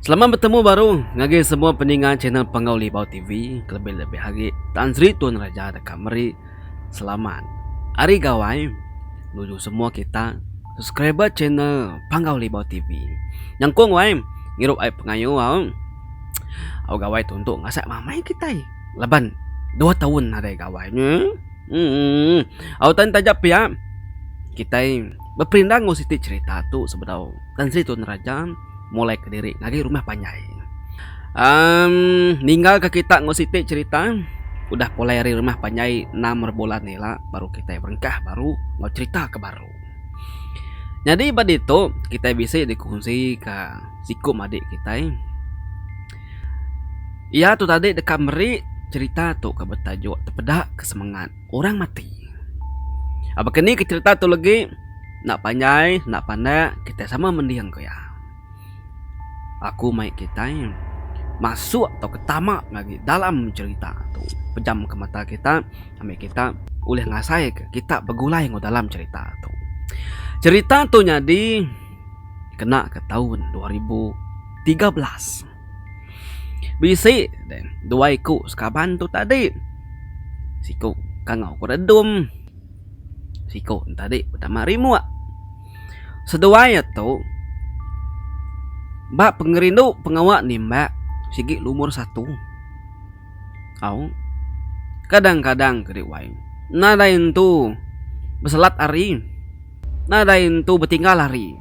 Selamat betemu baru ngagai semua peninga channel Panggau Libau TV kelebih-lebih agi Tan Sri Tun Raja deka meri selamat Hari Gawai nuju semua kita subscriber channel Panggau Libau TV. Nyengkong wai ngirup ai pengayo au. Au gawai tu entu ngasak mamai kitai laban dua taun nadai gawai nya. Au tan taja pia, kitai beperindah enggau siti cherita tu sebedau Tan Sri Tun Raja mulaika diri ngagai rumah panjai. Amm ninggalka kita enggau siti cherita udah pulai ari rumah panjai enam rebulan ila baru kitai berengkah baru enggau cherita ke baru. Nyadi ba ditu kitai bisi dikunsi ka siku madik kitai. Iya tu tadi deka meri cherita tu ke betajuk Tepeda ke Semengat Orang Mati. Aba ke ni ke cherita tu legi enda panjai enda pandak kitai sama mending ku iya. Aku mai kitai masuk tauka tama ne agi dalam cherita tu pejam ke mata kita ami kita ulih ngasai ke kita begulai enggau dalam cherita tu. Cherita tu nyadi. kena ke taun dua ribu tiga belas. Bisi dua iku sekaban tu tadi siku Kangau Keredom siku ne tadi Betama Rimok. Seduai iya tu ba pengerindu pengawa nimbak sigi lumur satu au kadang-kadang kadi wai nadai entu beselat ari. Nadai entu betinggal hari.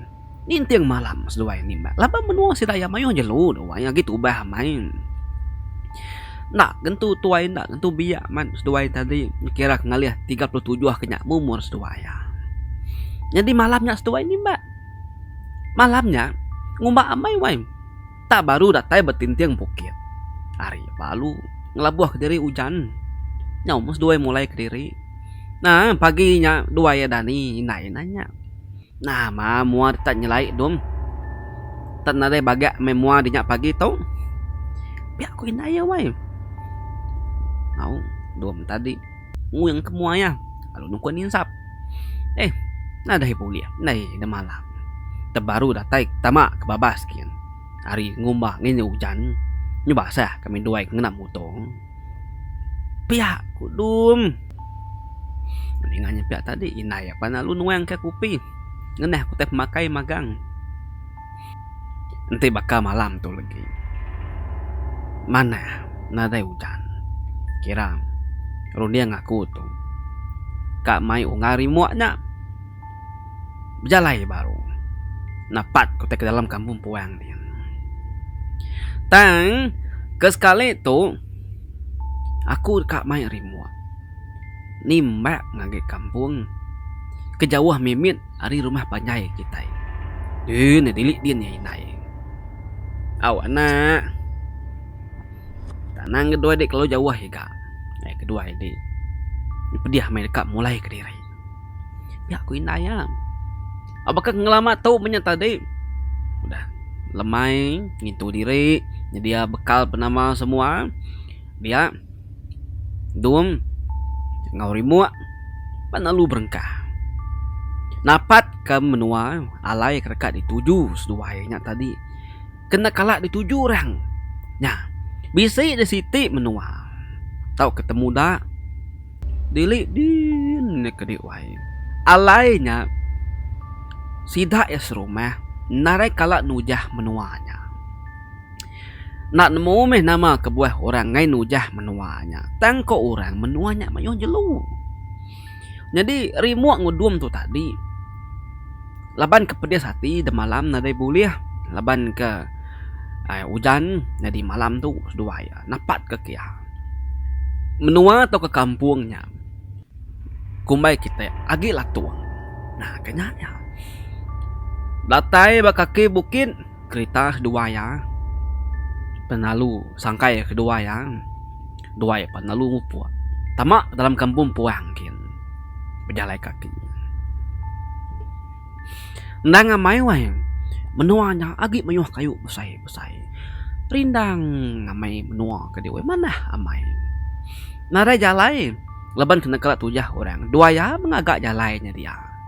Ninting malam seduai nimbat laban menua sida iya mayuh jelu duai agi tubah amai. Enda ngentu tuai enda ngentu biak man seduai tadi kira ke ngalih tiga puluh tujuh ke nya umur seduai iya. Nyadi malam nya seduai nimbat. Malam nya ngumba amai wai. tang baru datai betinting bukit. Ari ba alu ngelabuh kediri ujan nyau meh seduai mulai kediri nah pagi nya duai iya dani indai ina nya nah mah mua deka nyelai dong tak nadai bagak meh mua di nya pagi tu pia ku indai iya wai au dong tadi. nguing ke mua iya lalu nukun ninsap. Eh, nadai ibuh ulih ndai ida malam. Te baru datai ke tama ke babas gin. Ari ngumba ngini ujan, nyu basah kami duai ke ngena muto. Pia ku Dum. Ninga nya pia tadi, indai iya pan lalu nuang ke kupi ngenah ke utai pemakai magang. Enti baka malam tu legi manah nadai ujan kira runding aku tu ka mai unggal rimuk nya bejalai baru napat ku tai dalam kampung puang nih. Tang ke sekali tu aku ka mai rimuk nimbak ngagai kampung ke jauh mimit. ari rumah panjai kitai. Din ne dili din iya indai. Au anak. Tanang ga duai dei kelalu jauh iga. Ai keduai di dipedih meh deka mulai kediri. Nya ku indai iya. Au baka ngelama tu meh nya tadi udah lemai ngintu diri nyedia bekal penama semua dia. Dung enggau rimuk ba nalu berengkah. Napat ke menua alai ke deka dituju seduai nya tadi kena kala dituju orang nya. Bisi ne siti menua tauka te muda dili din neh kadi wai alai nya sida iya serumah narai kala nujah menua nya. Enda nemu meh nama kebuah orang ngai nujah menua nya. Tang ko orang menua nya mayuh jelu. Nyadi rimuk ngudum tu tadi laban ke pedis ati de malam nadai bulih laban ke ai ujan nyadi malam tu seduai iya napat ke kia. Menua tauka kampung nya kumbai kite agi latung. Nah ke nya nya. Datai ba kaki bukit. kerita kedua iya penalu sangkai kedua iya dua iya penalu mupok tama dalam kampung puang gin bejalai kaki endang amai wai menua nya agi mayuh kayu besai besai rindang amai menua ke diweh manah amai nadai jalai laban kena kala tujah orang dua iya mengaga jalai nya dia.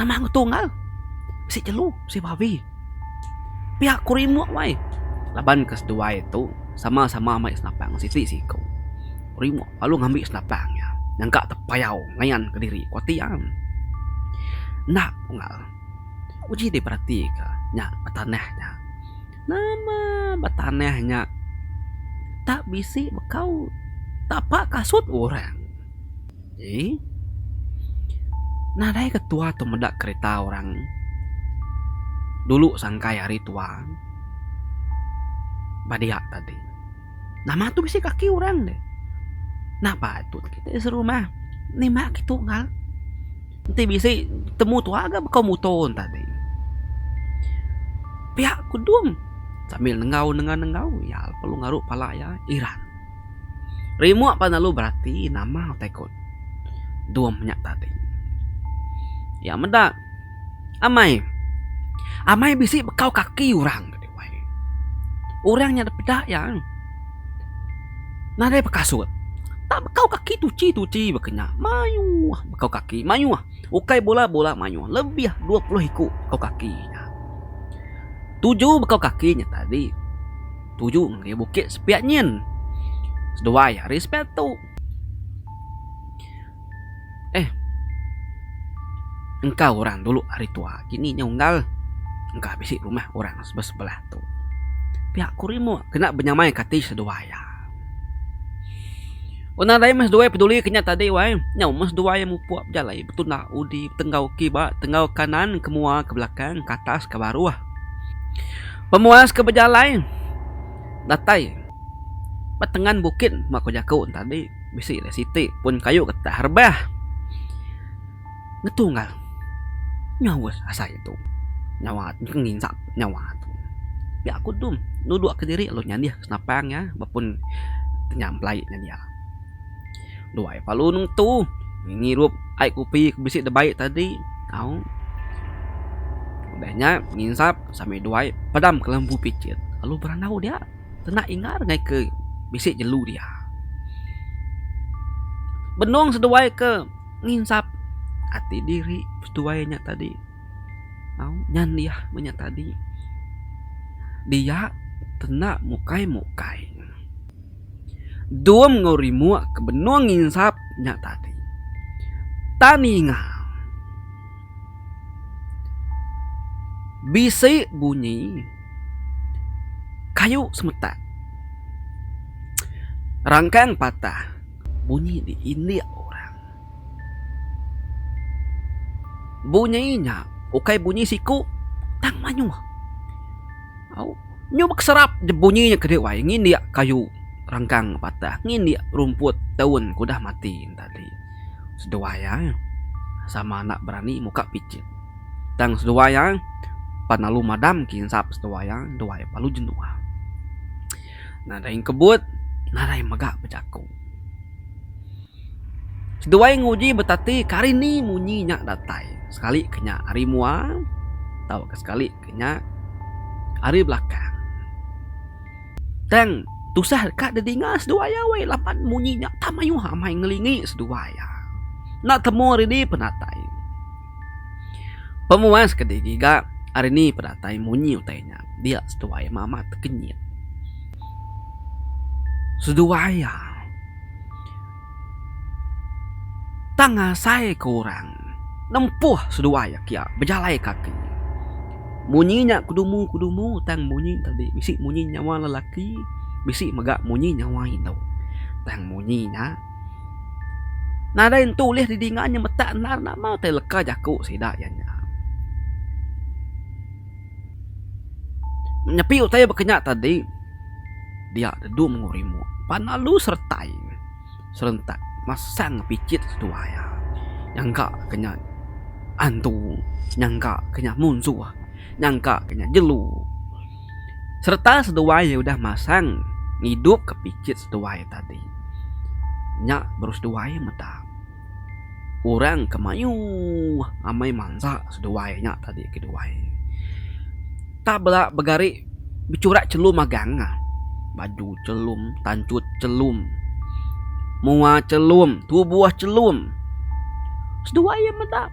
Nama ngetung au? Bisi jelu, bisi babi. Pia ku rimuk wai. Laban ke seduai tu sama sama mai senapang siti siku. Rimuk lalu ngambi senapang nya nyangka tepayau ngayan ke diri ku ati am. Enda unggal uji di perati ke nya betanah nya. Nama betanah nya tak bisi bekau tapa kasut orang. Eii. Nadai ke tua tu meda kereta orang. Dulu sangkai hari tua. Ba dia tadi. Nama tu bisi kaki orang deh. Nah patut kita ti serumah nima agi tunggal. Enti bisi temu tua ga baka muto tadi. Pia kudung sambil nengau nengah nengau iya lalu ngaru pala iya iran. Rimuk pan lalu berati nama utai ku dum nya tadi. Iya meda, amai, amai bisi bekau kaki orang ti wai. Orang nya dep peda iya nadai bekasut. Tak bekau kaki tuchi tuchi ba kinya. Mayuh bekau kaki, mayuh. Ukai bula bula mayuh. Lebih dua puluh iku bekau kaki nya. Tuju bekau kaki nya tadi. tuju ngagai bukit sepiak nyin. Seduai hari sepiak tu. Eh. Engka orang dulu hari tua kini nya unggal. Engka bisi rumah orang sebelah-sebelah tu. Piak ku rimuk kena benyamai ka ati seduai iya. Un nadai meh seduai peduli ke nya tadi wai. Nyau meh seduai mupuk bejalai betunda udi tenggau kiba, tenggau kanan ke mua ke belakang, ke atas ke baruh. Pemuas ke bejalai datai ba tengan bukit bak ku jaku tadi bisi alai siti pun kayu getah rebah ngetunggal nyau asai tu nyawa nginsap nyawa tu pia ku dum nudok kediri lu nyadin senapang iya ba pun nyam pelai nya dia. Duai palu nengetu ngirup ai kopi ke bisi da bai tadi au. Udah nya nginsap sami duai padam ka lampu picit lalu berandau dia tena ingar ngai ke bisi jelu dia. Benung seduai ke nginsap ati diri seduai nya tadi au nyan dia meh nya tadi dia tena mukai mukai. Dom enggau rimuk ke benung nginsap nya tadi. Tang ninga bisi bunyi kayu semetak rangkang patah bunyi di indik orang. Bunyi nya ukai bunyi siku tang mayuh. Au, nyu bekeserap je bunyi nya kedi wai ngindik kayu rengkang patah, ngindik rumput daun ke udah mati nya tadi. Seduai ai sama enda berani muka picit. Tang seduai ai pan alu madam ke insap seduai ai, seduai ai alu jenuh. Nadai kebut, nadai mega bejaku. Seduai nguji betati ke hari ni munyi nya datai. Sekali ke nya hari mua tauka sekali. ke nya ari belakang. Tang tusah deka didinga seduai iya weh laban munyi nya tak mayuh amai ngelingi seduai iya. Enda temu ari di penatai. Pemuas ke di giga ari ni penatai munyi utai nya dia seduai meh amat tekenyit. Seduai iya. Tang ngasaika orang nempuh seduai iya kiya bejalai kaki. Munyi nya kedumu-kedumu tang munyi nya tadi bisi munyi nyawa lelaki bisi mega munyi nyawa indu. Tang munyi nya nadai nentu ulih didinga inya metak endar nama utai leka jaku sida iya nya. Nyepi utai baka nya tadi. dia dedu menguk rimuk pan lalu seretai serentak masang picit seduai iya nyangka ke nya antu nyangka ke nya munsuh nyangka ke nya jelu sereta seduai iya udah masang ngidup ke picit seduai iya tadi nya baru seduai meda. Orang ke mayuh amai mansa seduai nya tadi keduai. Tang bala begari bechurak chelum magang ne. Baju chelum, tanchut chelum, mua chelum, tubuh chelum. Seduai iya meda.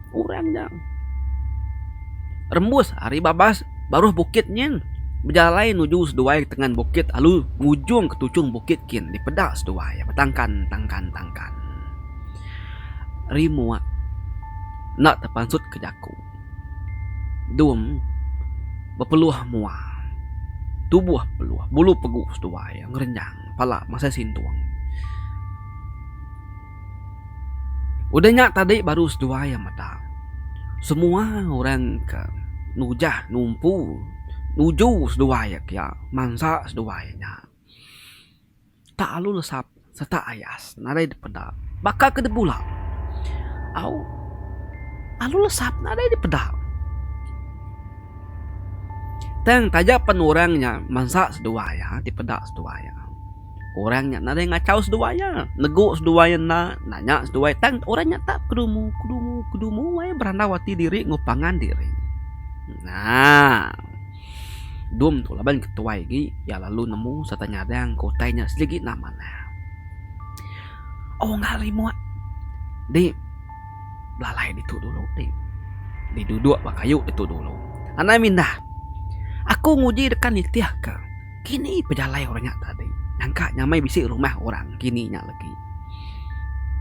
Orang nya rembus ari babas baruh Bukit Nying, bejalai nuju seduai tengan bukit alu ngujung ke tuchung bukit kin dipeda seduai betangkan tangkan tangkan. Rimuk enda tepansut ke jaku. Dum bepeluh mua. Tubuh peluh, bulu pegu seduai ngerenyang pala masai sintung. Udah nya tadi baru seduai iya meda. Semua orang ke nujah numpu nuju seduai iya kiya mansa seduai iya nya. Tak alu lesap setak ayas nadai dipeda. Baka ke de bula au alu lesap nadai dipeda. Tang taja pen orang nya mansa seduai iya ti peda seduai iya. Orang nya nadai ngachau seduai iya. Negu seduai iya enda, nanya seduai iya. Tang orang nya tak kedumu, kedumu, kedumu ai berandau ati diri enggau pangan diri. Nah. Dum tu laban ke tuai agi iya lalu nemu sereta nyadang ke utai nya sereti enda manah. Unggal rimut ti belalai ditu dulu ti diduduk ba kayu ditu dulu. Anang mindah. Aku nguji deka nitihka. Kini pejalai orang nya tadi nyangka nyamai bisi rumah orang kini nya legi.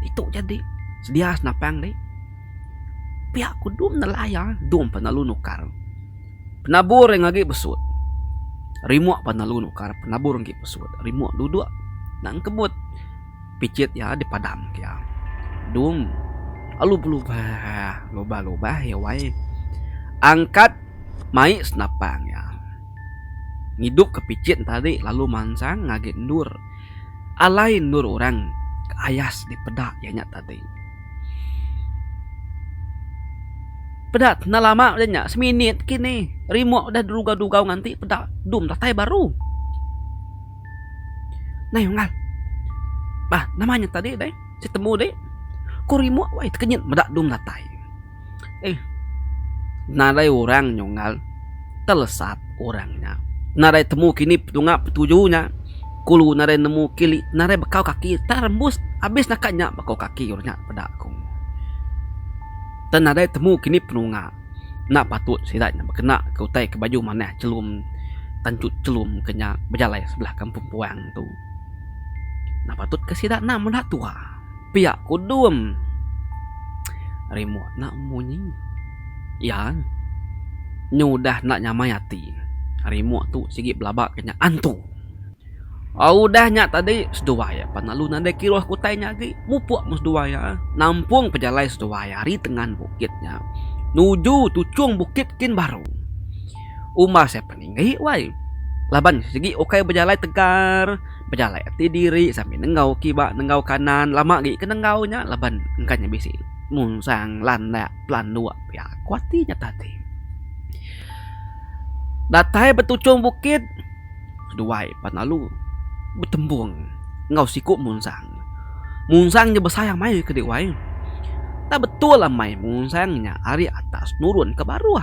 Ditu jadi sedia senapang dih. Pia ku dum nelai iya dum pan lalu nukar penabur iya ngagi besut. Rimuk pan lalu nukar penabur ngagi besut. Rimuk duduk nang kebut. Picit iya dipadamka iya. Dung lalu belubah lubah-lubah iya wai angkat mai senapang iya. Ngidupka picit nya tadi lalu mansang ngagai endur. Alai endur orang ke ayas dipeda iya nya tadi. Peda enda lama peda nya seminit kinih rimuk udah didugau-dugau nganti peda dung datai baru. Nai unggal. Bah nama nya tadi deh ti temu deh. Ku rimuk wai tekenyit meda dung datai. Eih nadai orang nya unggal telesap orang nya. Nadai temu kini tunga petuju nya. Kulu nadai nemu kili nadai bekau kaki tang rembus abis naka nya bekau kaki orang nya peda ku. Tang nadai temu kini penunga. enda patut sida nya bekena ke utai ke baju manah chelum tanchut chelum ke nya bejalai sebelah kampung puang tu. Enda patut ke sida enda meda tuwa pia kudung rimuk enda munyi iya nyu udah enda nyamai ati rimuk tu sigi belaba ke nya antu. Udah nya tadi seduai iya pan lalu nadai kiruh kutai nya agi mupuk meh seduai iya nampung pejalai seduai iya ari tengan bukit nya nuju tuchung bukit kin baru. Uma sai peninggi wai laban sigi ukai bejalai tegar bejalai ati diri sambil nenggau kiba nenggau kanan lama agi ke nenggau nya laban engka nya bisi munsang landak pelanduk pia ku ati nya tadi. Datai betuchung bukit. Keduai pan lalu betempung enggau siku Munsang. Munsang nya besai amai ke dih wai. Tang betul amai Munsang nya ari atas nurun ke baruh.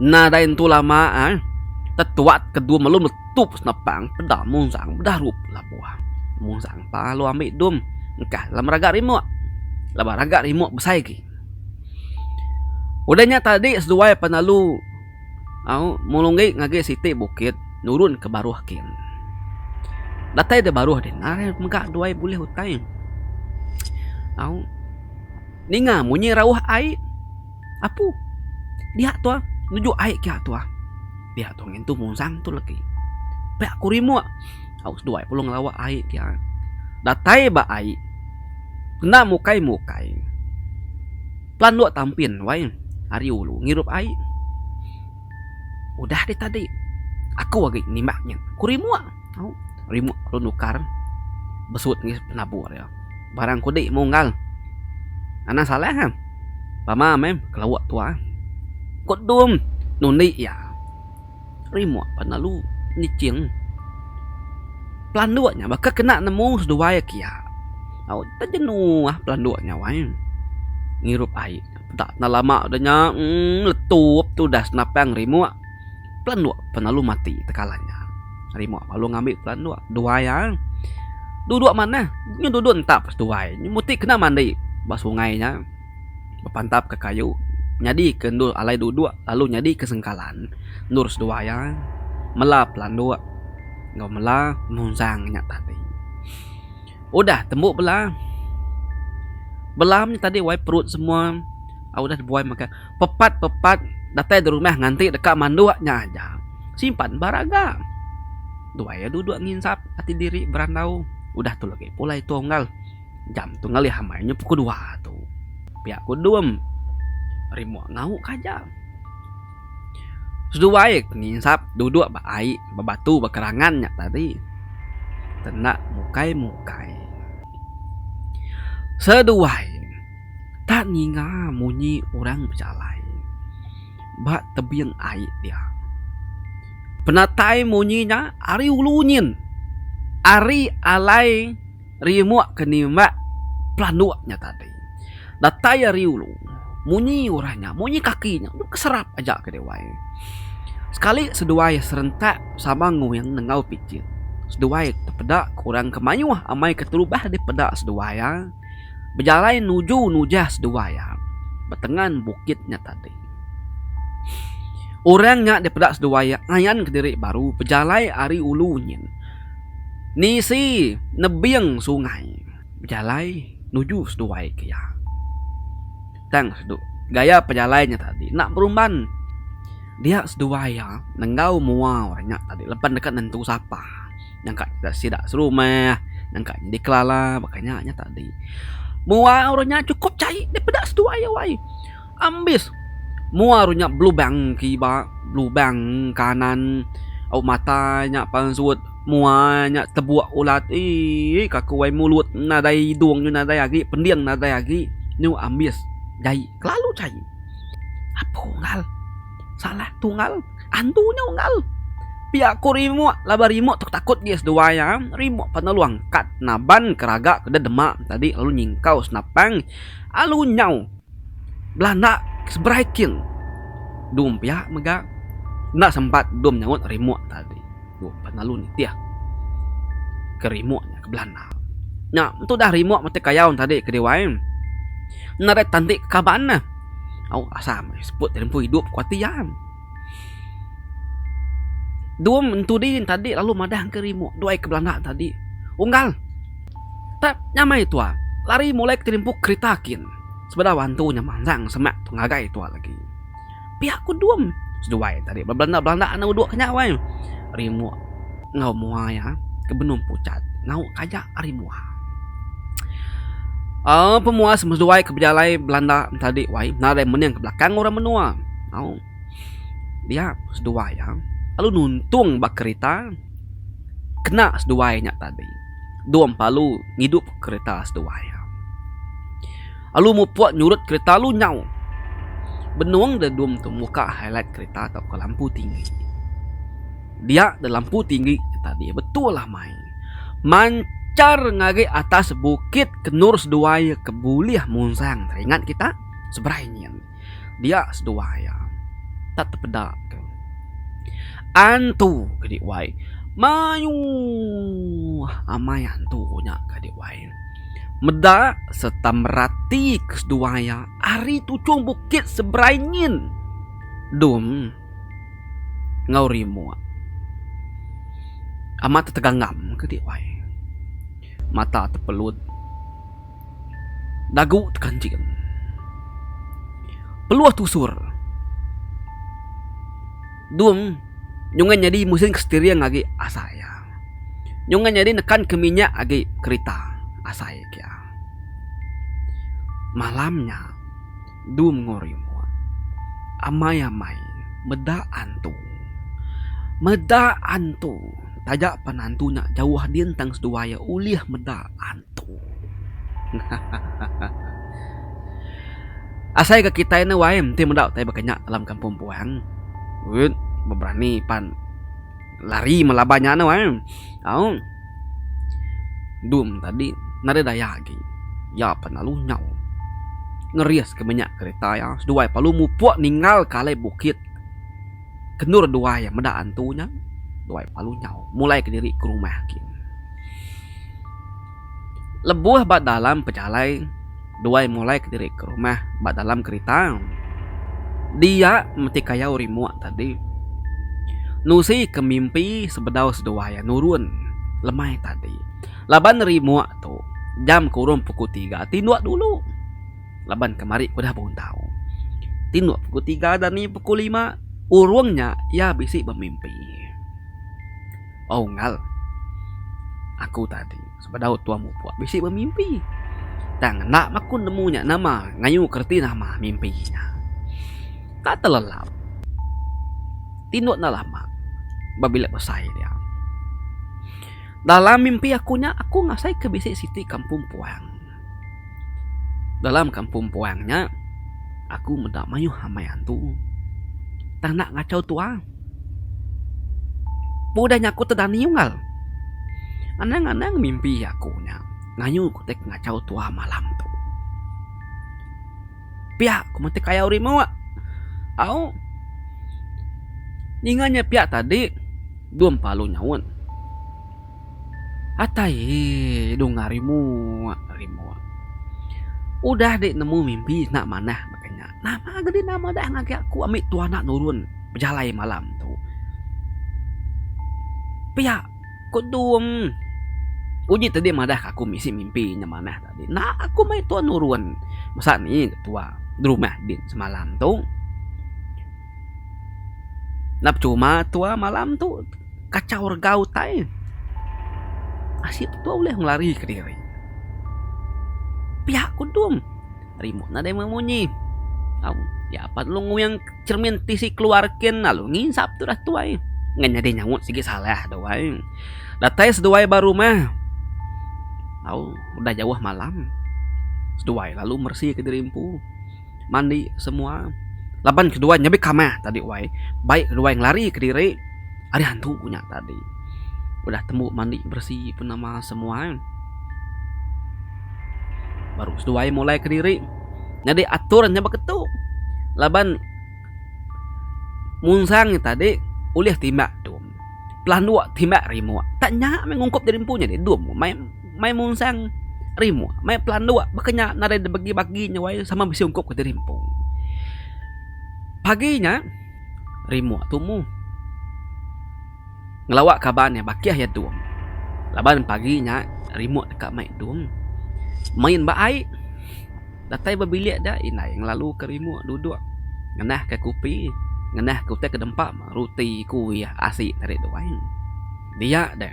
Nadai entu lama ai tetuak ke dum lalu meletup senapang peda Munsang bedarup labuh. Munsang pa lalu ambi dum engkah dalam raga rimuk. Laban raga rimuk besai agi. Udah nya tadi seduai pan lalu. Au Mulunggi ngagai siti bukit nurun ke baruh kin. Datai da baruh deh nai mega duai bulih utai. Au Ninga munyi rauh ai apu dia tua nuju ai kia tua. Pia tua ngintu muzang tu legi. Pia aku rimuk au seduai pulung lawa ai dia. Datai ba ai kena mukai mukai. Plan lok tampin wai ari ulu ngirup ai. Udah deh tadi aku agi nimbak nya ku rimuk au rimuk lalu nukar besut mih penabur iya. Barang kudi munggal anang salah am pama meh kelawa tuah. Ko dum nundi iya. Rimuk pan lalu niching. Pelanduk nya baka kena nemu seduai aki iya. Au tau jenuh pelanduk nya wai. Ngirup ai peda tena lama deh nya uhh meletup tudas napang rimuk. Pelanduk pan lalu mati tekalan nya. Rimuk pan lalu ngambi pelanduk duai iya. Duduk manah, nya duduk entap seduai. Nya mesti kena mandi ba sungai nya. bepantapka kayu nyadika endur alai duduk lalu nyadika sengkalan. Endur seduwa iya mela pelanduk enggau mela penunjang nya tadi. Udah tembu bela, bela nya tadi waai perut semua udah dibuai mega pepat pepat datai da rumah nganti deka manduk nya aja simpan ba raga. Duai iya duduk nginsap ati diri berandau udah tu lagi pulai tunggal. Jam tu ngalih amai nya pukul dua tu. Pia ku Dum. Rimuk ngau ka aja. Seduai ke nginsap duduk ba ai ba batu ba kerangan nya tadi. Tenda mukai-mukai. Seduai tak ninga munyi orang bejalai ba tebing ai dia. Penatai munyi nya ari ulu nyin. Ari alai. Rimuk ke nimbak pelanduk nya tadi. Datai ari ulu, munyi urang nya, munyi kaki nya, dep ke serap aja ke Dewan. Sekali seduai serentak sama nguing nengau pitik. Seduai tepeda ke urang ke mayuh amai keterubah deh peda seduai iya. Bejalai nuju nujah seduai iya betengan bukit nya tadi. Urang nya deh peda seduai iya ngayan kediri baru bejalai ari ulu nyin. nisi nebing sungai bejalai nuju seduai ke iya. Tang sedu gaya pejalai nya tadi enda berumban dia seduai iya enggau mua orang nya tadi lepa deka nentu sapa nyangka deka sida serumah nyangka nyadi kelala baka nya nya tadi. Mua orang nya cukup chai daripada seduai iya wai. Ambis! Mua ru nya belubang kiba, belubang kanan. Au mata nya pansut, mua nya tebuk ulat. Ii ka ku ai mulut nadai hidung nyau nadai agi, pending nadai agi. Nyu ambis jai kelalu jai. Apo unggal? Salah tu unggal. Andu nya unggal. Pia ku Rimuk laban Rimuk tu takut agi seduai iya. Rimuk pan lalu angkat naban ke raga ke deh dema tadi lalu nyingkau senapang lalu nyau. bala enda seberai kin dom pia mega enda sempat dom nyaut remote tadi dom pa lalu nitih ke remote ke belanda nya tu dah remote mati kayau tadi ke diwai enda dei tenti kaban ne au asal meh seput tempoh idup kuati iya. Dum entu di tadi lalu madah ke rimu duai ke belanda tadi unggal tap nyamai tua lari mulai ke rimpu kerita kin sebedau antu nya manjang semak tu ngagai tua lagi. Pia ku dum seduai tadi ba belanda belanda enda udu ke nya weh rimu. enggau mua iya ke benung pucat nau ka aja ari mua. Aaa pemua seduai ke bejalai belanda tadi wai nadai mening ke belakang orang menua au dia seduai iya lalu nuntung ba kerita kena seduai nya tadi dua empalu ngidup kerita seduai iya lalu mupuk nyurut kerita lalu nyau benung deh dua muka highlight kerita tauka lampu tinggi. dia da lampu tinggi ke tadi betul amai manchar ngagai atas bukit kenur seduai ke bulih munsang teringat kita seberai nyin dia seduai iya tak tepeda tu antu kadi wai mayuh amai antu nya kadi wai meda serta merati ke seduai iya ari tuchung bukit seberai nyin dum. enggau rimuk. Amat tetegangam ke ti wai. Mata tepelut. Dagu tekanjing. Peluh tusur. Dung nyungah nyadi mesin steering agi asai iya. Nyungah nyadi nekan ke minyak agi kerita asai kia. Malam nya. Dum ngo rimut. Amai amai. Meda antu. Meda antu. Taja pan antu nya jauh din tang seduai iya ulih meda antu. Hahahaha. Asai ka kitai ne wai enti meda utai baka nya dalam kampung puang. Wit beberani pan. lari melaban nya anu em au dum tadi nare daya agi iya pa lalu nyau ngeris ke minyak kereta iya seduai lalu mupuk ninggal ka alai bukit kendur duai iya meda antu nya duai lalu nyau mulai kediri ke rumah gin. Lebuh ba dalam pejalai, Duai mulai kediri ke rumah ba dalam kerita. Dia meti kayau rimuk tadi. Nusi ke mimpi sebedau seduai iya nurun lemai tadi. Laban rimuk tu, jam ke urung pukul tiga ti endok dulu. Laban ke mari ke udah bundau ti endok pukul tiga dani pukul lima urung nya iya bisi bemimpi. Au Ngal. Aku tadi sebedau tuan mupuk bisi bemimpi. Tang enda meh aku nemu nya nama ngayuka reti nama mimpi nya. Enda telelap. Tinduk enda lama ba bilik besai dia. Dalam mimpi aku nya aku ngasaika bisi siti kampung puang. Dalam kampung puang nya aku meda mayuh amai antu tang enda ngachau tua. Ba udah nya aku tedani unggal. Anang-anang mimpi aku nya ngayu ku ti ngachau tua malam tu. Pia ku meti kayau rimuk. Au ninga nya pia tadi dua empalu nyaut. Atai ee dunga rimuk rimuk. Udah deh nemu mimpi enda manah baka nya. Nama gedi nama dah ngagai aku ami tu anak nurun bejalai malam tu. Pia ku dung uji tadi madah aku bisi mimpi nya manah tadi. Enda aku meh tuan nurun. Masa ni tua berumah din semalam tu. Nap cuma tua malam tu kachau rega utai ashi tua ulih ngelari ke diri piak kudum remote nadai meh munyi au nya apat lu nguing cermin ti si keluar kin lalu ngisap tu dah tuai ngan nyadi nyaut sigi salah tu ai datai seduai ba rumah au udah jauh malam seduai lalu meresi ke diri empu. mandi semua laban ke duai nyabit kamah tadi wai bai ke duai ngelari kediri ari hantu nya tadi udah tembu mandi beresi pun nama semua baru seduai mulai kediri nyadi atur nya baka tu laban munsang nya tadi ulih timbak dom pelanduk timbak rimuk tanya meh ungkup jadi empu nya deh dom meh. mai munsang rimu, mai pelanduk baka nya nadai dibagi-bagi nya wai sama bisi ungkup ke diri empu. Pagi nya rimu tumu ngelawa kaban iya bakih iya dung laban pagi nya rimu deka mai dung main ba ai datai ba bilik dia indai ngelalu ka rimu duduk ngenah ka kopi ngenah ka utai ke dempa roti kuih asi ari dua ai dia deh.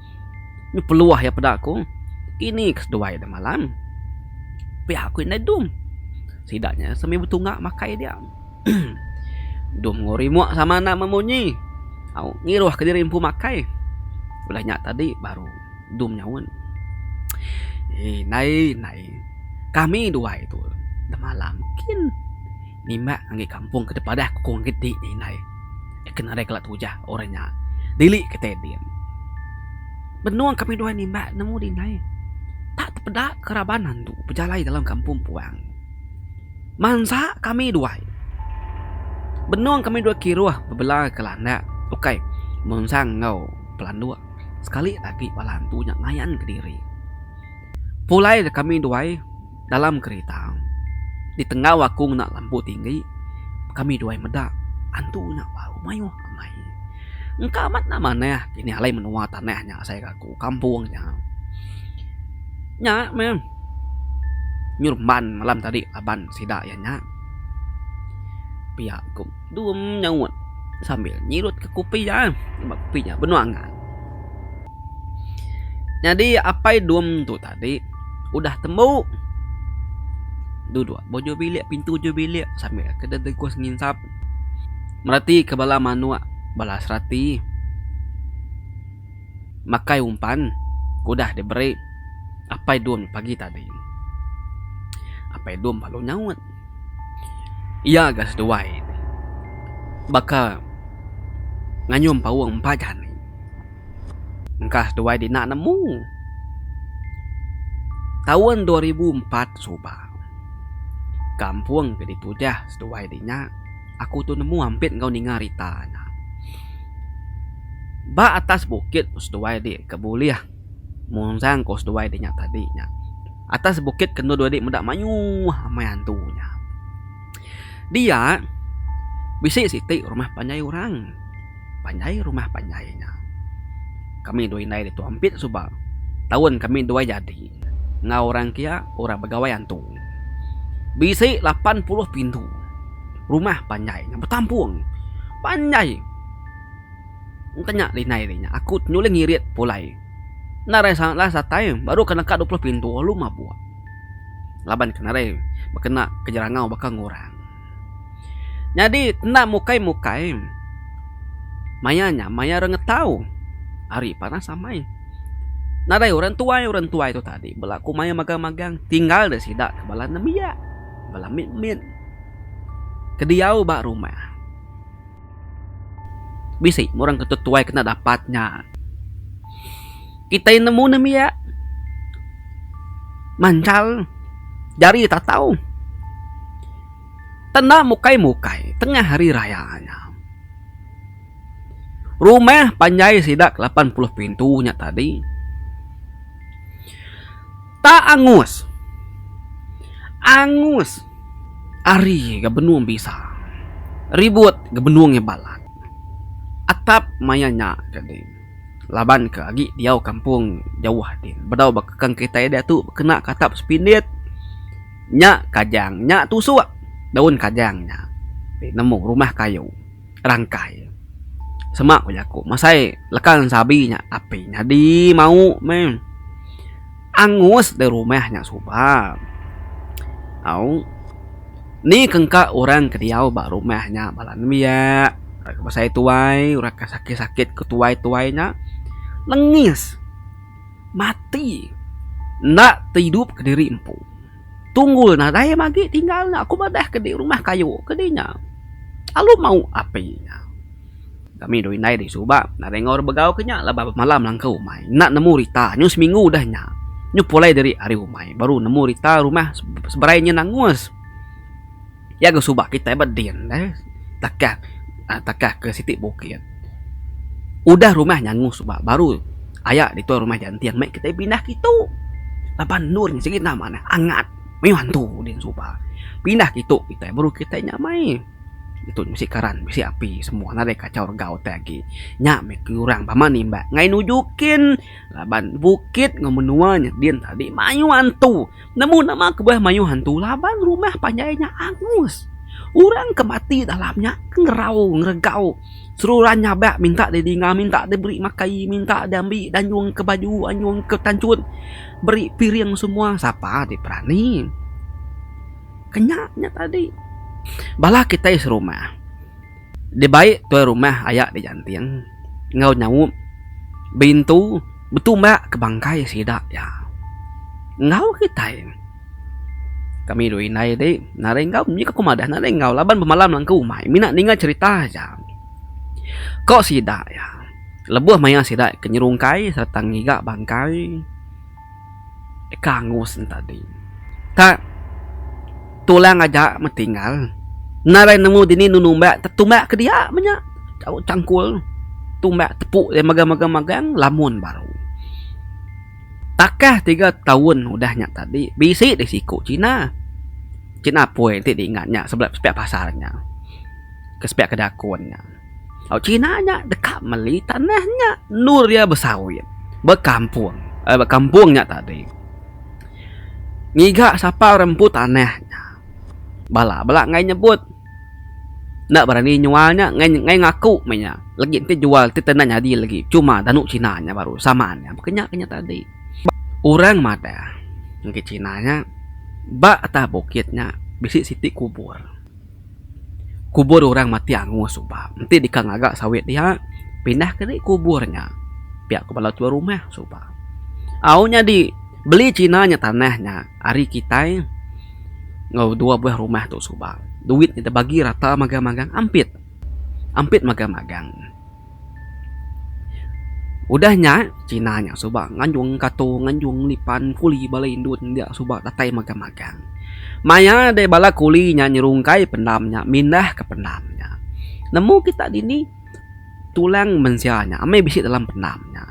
Nya peluah iya peda aku, ini ke seduai deh malam. Pia aku indai dum. Sida nya semina betunga makai dia. dum enggau remote sama enda memunyi. Au ngiruh ke diri empu makai. Udah nya tadi baru dum nyaut. Indai indai kami duai tu deh malam kin. Nimbak ngagai kampung ke tepadah kukung agi ti nya indai. Eka nadai kala tujah orang nya dili ke tai din. Benung kami duai nimbak nemu di indai. Tak tepeda ke raban andu bejalai dalam kampung puang. Mansa kami duai. Benung kami duai kiruh bebela ke landak ukai mensang enggau pelanduk sekali agi bala andu nya ngayan kediri. Pulai dek kami duai. dalam kerita di tenggau aku ngena lampu tinggi kami duai meda antu nya bau mayuh angai engka amat enda manah kini alai menua tanah nya asai ke aku kampung nya. Nya meh nyerumban malam tadi laban sida iya nya pia ku dum nyaut sambil nyirut ke kopi iya sebab kopi iya benung angan. Nyadi apai dum tu tadi. Tadi udah tembu duduk bujur bilik pintu ujur bilik sambil ke deh tegus nginsap meratika bala manuk bala serati makai umpan ke udah diberi Apai Dum pagi tadi. Apai Dum lalu nyaut. Iya ga seduai baka ngayum paung empat jani. Engkah tuai dina nemu. Taun dua ribu empat suba kampung ke ditujah seduai di nya aku tu nemu ampit enggau ninga rita nya. Ba atas bukit ku seduai di ke bulih munjang ku seduai di nya tadi nya. Atas bukit ke enda dua di meda mayuh amai antu nya. Dia bisi siti rumah panjai orang. Panjai rumah panjai nya. Kami dua indai ditu ampit suba taun kami dua jadi enggau orang kia orang begawai antu. Bisi lapan puluh pintu rumah panjai nya betampung. Panjai enti nya indai ri nya aku nyuling irit pulai. Enda rasan enda satai baru ke neka dua puluh pintu lalu mabuk. laban ke nadai bekena ke jerangau baka enggau orang. Nyadi enda mukai mukai maya nya maya orang ngetau ari panas amai. Nadai orang tuai orang tuai tu tadi belaku maya magang magang tinggal da sida ke bala nembiak bala mit mit ke diau ba rumah. Bisi meh orang ketu tuai kena dapat nya. Kitai nemu nembiak manjal jari tatau. Tanda mukai mukai tengah hari raya nya. Rumah panjai sida ke lapan puluh pintu nya tadi. Ta angus. Angus. Ari ga benung bisa. Ribut ga benung iya balat. Atap maya nya ka din. Laban ka agi diau kampung jauh din. Bedau ba kekang kitai diatu kena ka atap sepindit. Nya kajang. Nya tusuk daun kajang nya. Ti nemu rumah kayu. rangkai. Semak ku jaku masai leka sabi nya api nyadi mau meh angus deh rumah nya suba au ni ke engka orang ke diau ba rumah nya bala nembiak orang ke besai tuai orang ke sakit sakit ke tuai tuai nya lengis mati enda ke idup kediri empu. Tunggul nadai magi tinggal nya ku madah ke di rumah kayu ke di nya. Alu mau api nya. Kami dua indai di suba nadai enggau orang begau ke nya laban bemalam langkau umai enda nemu rita nyu seminggu udah nya. Nyu pulai diri ari umai baru nemu rita rumah seberai nyin angus. Iya ga suba kitai ba din deh takah aaa takah ke siti bukit. Udah rumah nyangu suba baru aya ditu rumah janting meh kitai pindah ke itu. Laban endur nya sigi nama ne angat mayuh hantu din suba. Pindah ke itu kitai baru kitai nya mai. Ditu bisi karan bisi api semua nadai kacau regau te agi. Nya meh ke orang bama nimbak ngai nuju kin laban bukit enggau menua nya din tadi mayuh hantu. Nemu nama kebuah mayuh antu laban rumah panjai nya angus. Orang ke mati dalam nya ke ngerau ngeregau seruran nyabak minta diri dinga minta diberi makai minta diambi danyung ke baju anyung ke tanchun beri piring semua sapa ti berani. Ke nya nya tadi bala kitai serumah. dibai tuai rumah aya di Janting enggau nyaup Bintu betumbak ke bangkai sida iya. Enggau kitai kami dua indai ti nadai enggau mih ke ku madah nadai enggau laban bemalam langkau umai mina ninga cherita aja. Ko sida iya lebuh maya sida ke nyerungkai sereta ngiga bangkai. deka angus ne tadi. Tang tulang aja meh tinggal enda raih nemu dini enu numbak tau tumbak ke dia meh nya tau cangkul tumbak tepu dia megang megang megang lamun baru. Takah tiga taun udah nya tadi bisi deh siku cina. Cina apoi ti di ingat nya sebelah sepiak pasar nya ke sepiak ke dakun nya. Au China nya deka meli tanah nya endur iya besawit bekampung ai bekampung nya tadi. Ngiga sapa orang empu tanah nya bala bela enggai nyebut enda berani nyual nya enggai enggai ngaku meh iya legi ti jual ti enda nyadi legi cuma danu China nya baru sama nya mungkin nya kinya tadi. Orang madah ngagai China nya ba atas bukit nya bisi siti kubur. Kubur orang mati angoh suba enti deka ngaga sawit dia pindah ke agi kubur nya pia ko bala tuan rumah suba. Au nyadi beli china nya tanah nya ari kitai enggau dua buah rumah tu suba duit nya dibagi rata magang-magang ampit. Ampit magang-magang. Udah nya, China nya suba nganjung Kato, nganjung Lipan, kuli bala indu India suba datai magang magang. Maya deh bala kuli nya nyerungkai pendam nya, mindah ke pendam nya. Nemu kita dini tulang mensia nya amai bisi dalam pendam nya.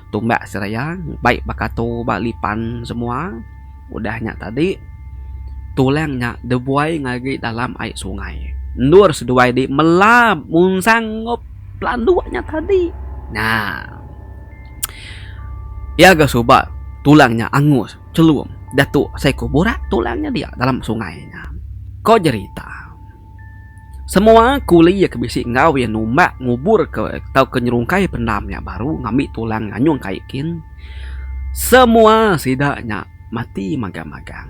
tumbak seraya baik ba kato ba lipan semua udah nya tadi tulang nya debuai ngagai dalam ai sungai endor seduai di mela munsang enggau pelandok nya tadi nya pia ga suba tulang nya angus chelum dato seko burak tulang nya dia dalam sungai nya ko jerita. Semua kuli ke bisi enggau iya numbak nguburka tauka nyerungkai pendam nya baru ngambi tulang nganyung kai kin, semua sida nya mati magang-magang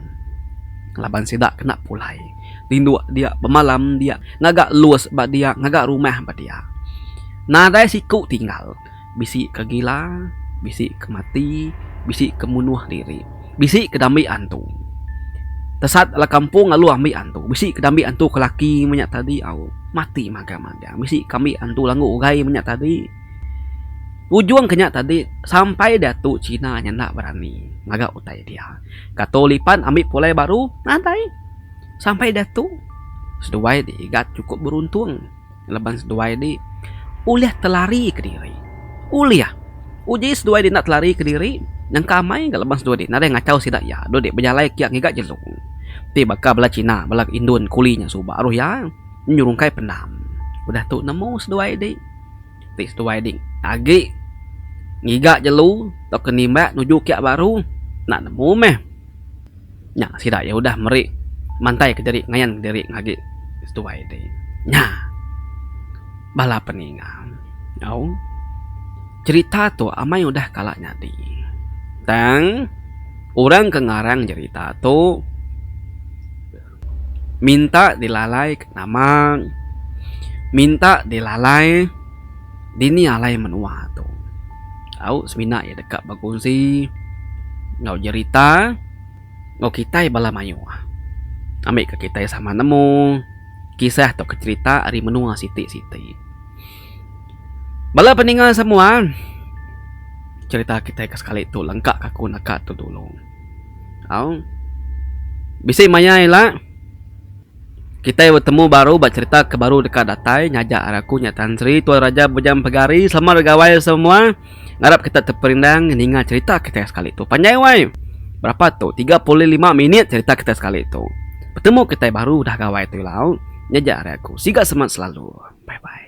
laban sida kena pulai tinduk dia bemalam dia ngaga lus ba dia ngaga rumah ba dia. Nadai siku tinggal. bisi ke gila, bisi ke mati, bisi ke munuh diri, bisi ke dambi antu. Tesat bala kampung lalu ambi antu, bisi ke dambi antu ke laki menya tadi au mati magang-magang, bisi ke ambi antu langgu ugai menya tadi. Ujung ke nya tadi sampai diatu China nya enda berani ngaga utai dia. Ka tu lipan ambi pulai baru nadai sampai diatu seduai ti igat chukup beruntung. laban seduai di ulih telari kediri ulih uji seduai di enda telari kediri nyengka amai ga laban seduai di nadai ngachau sida iya dulu di bejalai kiak ngiga jelu ti baka bala cina bala indon kuli nya suba ruh iya nyerungkai pendam udah tu nemu seduai di ti seduai di agi ngiga jelu tauka nimbak nuju kiak baru enda nemu meh nya sida iya udah meri mantai kediri ngayan diri agi seduai ti nya bala peninga au cerita tu amai udah kala nyadi tang orang ke ngarang cerita tu minta dilalai ke nama minta dilalai. dini alai menua tu. Au semina iya deka bekunsi enggau jerita enggau kitai bala mayuh. Ambika kitai sama nemu kisah tauka jerita ari menua siti siti. Bala peninga semua jerita kitai ke sekali tu lengka ka ku naka tu dulu. Au bisi maya ila. Kitai betemu baru ba cerita ke baru deka datai ngajar aku nya Tan Sri Tuan Raja Bujang Mpegari selamat begawai semua ngarap kita teperindang ninga cerita kitai sekali tu panjai wai berapa tu tiga pulih lima minit cerita kitai sekali tu betemu kitai baru udah gawai tu ilau nyaja ari aku siga semangat selalu bye bye.